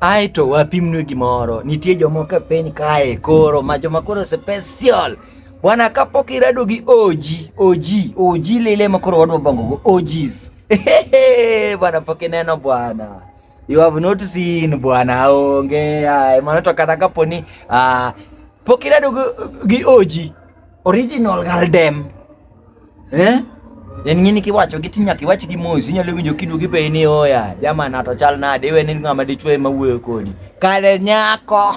Ae to wapimnue gimoro. Nitie jomoko e piny kae koro ma joma koro special. Bwana kapok irado gi oji, oji, oji lile ma koro wadwa bongo go ojis. Bwana pok ineno bwana. You have not seen bwana onge. Ae mano to kata kapo ni uh, pok irado gi oji original galdem. Eh? En ng'ini kiwacho gi tinya kiwach gi mos inyalo winjo kidu gi pei ni oya jama na to chal nade iwe ni ng'ama dichwe ma wuoyo kodi kale nyako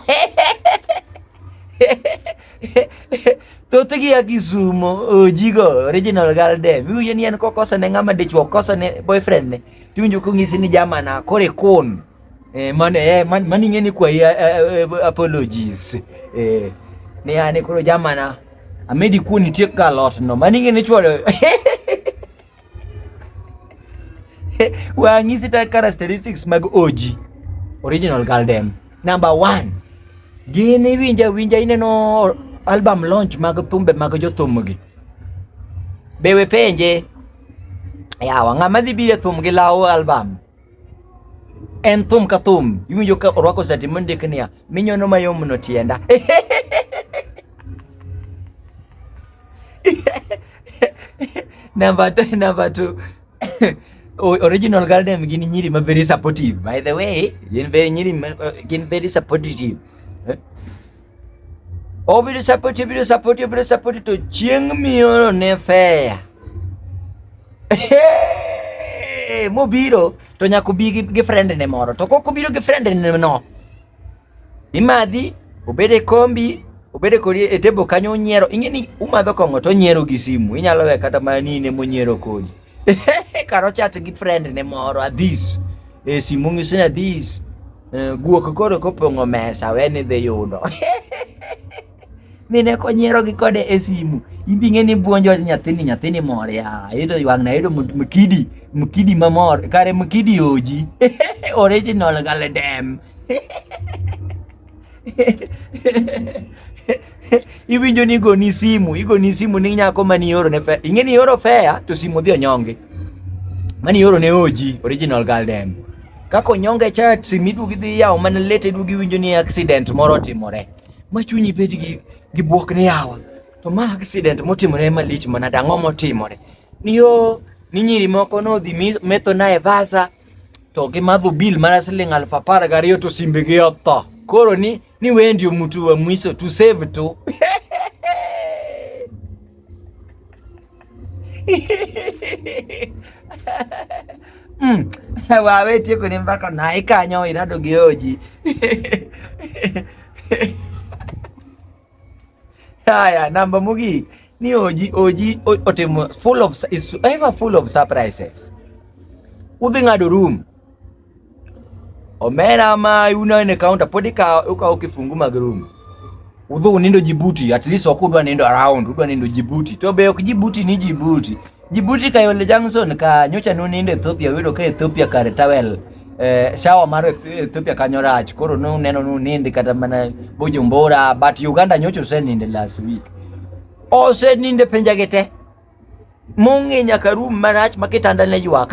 thothgi ya kisumo ojigo original gal dem iwinjo ni en kokosone ng'ama dichwo kosone boyfriend ne tiwinjo kong'isi ni jama na kore kun Eh, man, eh, man, man ing'e ni kwayi eh, eh, eh, apologies. Eh. Ni ane koro jamana. Amedi kuon nitie ka lot no. Man ing'e ni chwalo. Wang'i sita characteristics mag OG. Original Girl Dem. Number one. Gin iwinja winja ineno album launch mag thumbe mag jothumgi. Be we penje. Yawa ng'ama dhi biro e thum gi law album. en thum ka thum iwinjo ka orwako sati mondik niya minyono mayom no tienda number two, number two. original garden gin nyiri ma very supportive by the way gin very nyiri ma, uh, gin very supportive eh? Obiro sapoti, obiro sapoti, obiro sapoti to chieng' mioro ne feya. Mobiro to nyaka obi gi friend ne moro. To kok obiro gi friend ne no. Imadhi, obede e kombi, obede kodi e table kanyo onyiero. Ing'e ni umadho kong'o to onyiero gi simu. Inyalo we kata mana ni ne monyiero kodi. Karo chat gi friend ne moro, adhis. E simu ng'iso ni adhis. Eh, guok koro kopong'o mesa we ni dhi yudo mine konyiero gi kode e simu imbi ng'e ni buonjo nyathini nyathini mor ya yudo ywang na yudo mkidi mkidi mamor kare mkidi oji original galedem iwinjo ni igoni simu igoni simu ni nyako mani oro ne fea ing'e ni oro fea to simu dhi onyonge mani oro ne oji original girl dem kaka onyonge cha simu iduogi dhi yawo mana lete iduogi iwinjo ni accident moro otimore ma chunyi bed gi, gi buok ni yawa to ma accident motimore malich mana dang'o motimore niyo ni nyiri moko nodhi mi- metho nae vasa to gimadho bill mana siling aluf apar gariyo to simbegi otho. Koro ni, ni wewe ndio mtu wa mwiso to save tu mm. wawe tieko ni mbaka na ikanyo irado geoji Haya, namba mogik ni Oji, Oji otimo full of is ever full of surprises. Udhi ng'ado room. Omera ma una ne counter podi ka ukawo kifungu mag room. Udhi unindo Djibouti, at least ok udwa nindo around, udwa nindo Djibouti. To be ok Djibouti ni Djibouti. Jibuti ka yole Johnson ka nyocha nuninde Ethiopia yudo ka Ethiopia kare tawel eh, shawa mar Ethiopia kanyo rach koro nuneno nunindi kata mana Bujumbura but Uganda nyocha useninde last week oseninde penja gete mung'i nyaka room marach ma kitanda ne ywak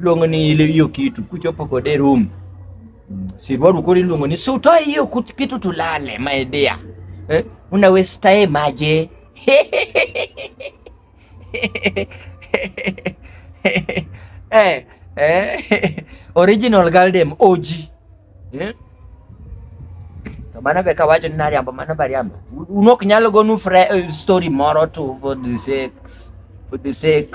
Luongo ni ile hiyo kitu kuchopo kode room. Mm. Si bado kodi luongo ni si utoe hiyo kitu tulale my dear. Eh? Una waste time aje? eh, eh, original girl dem OG. Eh? To mano be kawacho ni nariambo mano bariambo. Unok nyalo gonu eh, story moro to for the sake for the sake